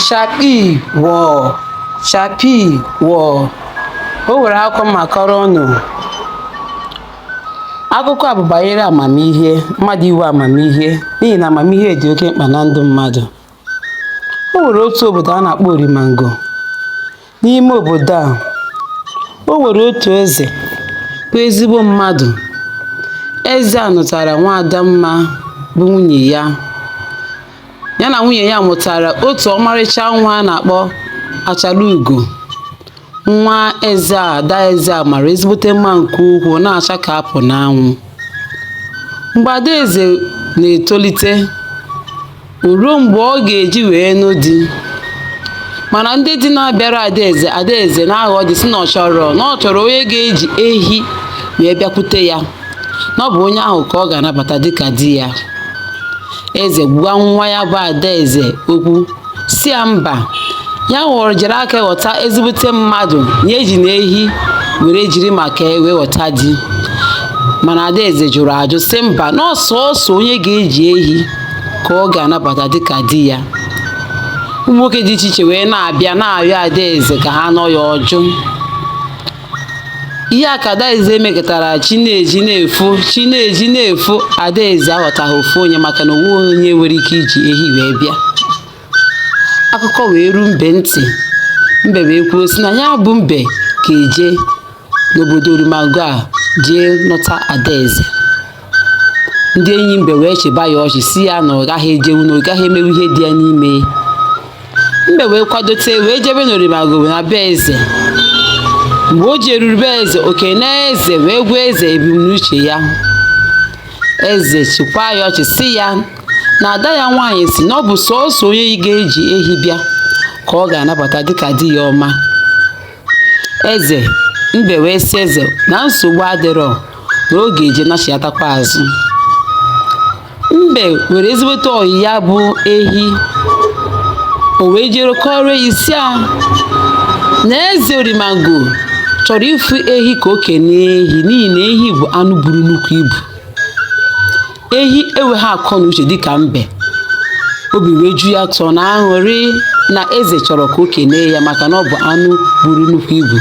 Shapi wọ shapi wọ o nwere akụkọ m ga-akọrọ unu akụkọ a bụ banyere amamihe mmadụ inwe amamihe n'ihi na amamihe dị oke mkpa na ndụ mmadụ o nwere otu obodo a na-akpọ Orimango N'ime obodo a, o nwere otu eze bụ ezigbo mmadụ. Eze a nụtara nwaada mma bụ nwunye ya. Ya na nwunye ya mụtara otu ọmarịcha nwa a na-akpọ achala ugo. Nwa eze a, ada eze a mara ezigbote mma nke ukwuu, na-acha ka apụ n'anwụ. Mgbe adaeze na-etolite, O ruo mgbe ọ ga-eji wee nụ di mana ndị di na-abịara adaeze adaeze na-aghọ di si na ọ chọrọ na ọ chọrọ onye ga-eji ehi wee bịakwute ya na ọ bụ onye ahụ ka ọ ga-anabata dịka di ya eze gwa nwa ya bụ adaeze okwu si ya mba ya were jiri aka ghọta ezigbote mmadụ ya ejina ehi were jiri maka ya wee ghọta di mana adaeze jụrụ ajụ si mba na ọ sọọsọ onye ga-eji ehi ka ọ ga-anabata dịka di ya ụmụ nwoke dị iche iche wee na-abịa na-arịọ adaeze ka ha nụọ ya ọ jụ ihe a ka adaeze mekatara chi na-eji na-efo chi na-eji na-efo adaeze aghọtaghị ofu onye maka na o nweghị onye nwere ike iji ehi wee bịa akụkọ wee ruo mbe ntị mbe wee kwuo sị na ya bụ mbe ga-eje n'obodo orimango a jee nụta adaeze ndị enyi mbe wee chịba ya ọchị si ya na ọ gaghị ejewu na ọ gaghị emewu ihe dị ya n'ime mbe wee kwadote wee jebe n'orimango be na be eze mgbe o jeruru be eze o kene eze wee gwa eze ebumnuche ya eze chịkwaa ya ọchị si ya na ada ya nwaanyị si na ọ bụ sọọsọ onye ga-eji ehi bịa ka ọ ga-anabata dịka di ya ọma eze mbe wee sị eze na nsogbu adịrọ na ọ ga-eje nachiatakwa azụ mbe nwere ezigbote ọyị ya bụ ehi o wee jere kọrọ ehi si ya na eze orimango chọrọ ịfụ ehi ka o kenee ehi n'ihi na ehi bụ anụ buru nnukwu ibu ehi enweghị akọ na uche dịka mbe obi wee ju ya ụtọ na aṅụrị na eze chọrọ ka o kenee ya maka na ọ bụ anụ buru nnukwu ibu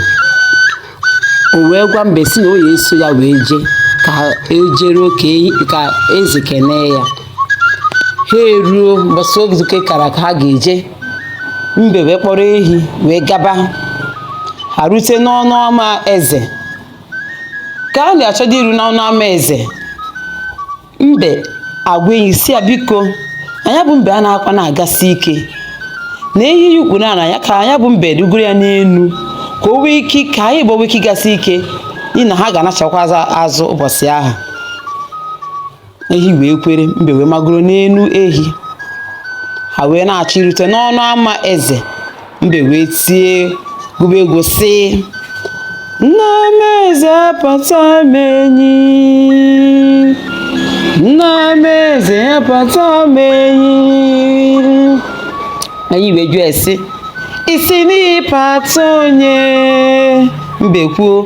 o wee gwa mbe si na ọ ya-eso ya wee jee ka e jere ka eze kenee ya ha eruo mbọsị oge a kara aka ha ga-eje mbe wee kpọrọ ehi wee gaba ha rute n'ọnụ ama eze ka ha na-achọdo iru n'ọnụ ama eze mbe agwa enyi sị ya biko na ya bụ mbe a na-akwa na-agasi ike na ehi ya ukwu na ya ka ya bụ mbe rugoro ya n'elu ka o nwee ike ka anyị wee nwee ike ịgasi ike n'ihi na ha ga-anachakwa azụ ụbọchị ahụ ehi wee kwere mbe wee magoro n'elu ehi ha wee na-achọ irute n'ọnụ ama eze mbe wee tie gụba egwu sị nna m eze apata m enyi nna m eze apata m enyi enyi wee jụọ ya sị ị sị na ịpata onye mbe kwuo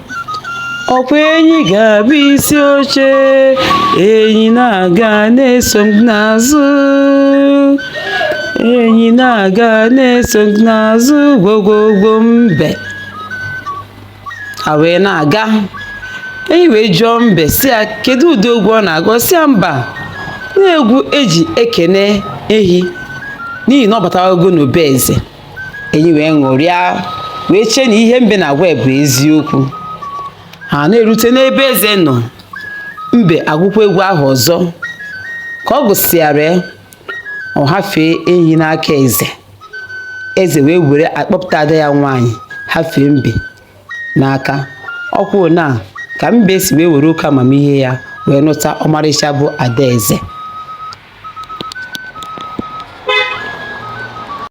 ọ kwa enyi ga-abụ isi oche enyi na-aga na-eso m n'azụ enyi na-aga na-eso m n'azụ gwogwogwo mbe ha wee na-aga enyi wee jụọ mbe sị ya kedu ụdị egwu ọ na-agụ ọ sị ya mba na egwu e ji ekene ehi n'ihi na ọ batawago n'obe eze enyi wee ṅụrịa wee chee na ihe mbe na-agwa ya bụ eziokwu ha na-erute n'ebe eze nọ mbe agụkwa egwu ahụ ọzọ ka ọ gụsịara ya ọ hafee ehi n'aka eze eze wee were akpọpụta ada ya nwaanyị hafee mbe n'aka otu a ka mbe si wee were oke amamihe ya wee nụta ọmarịcha bụ ada eze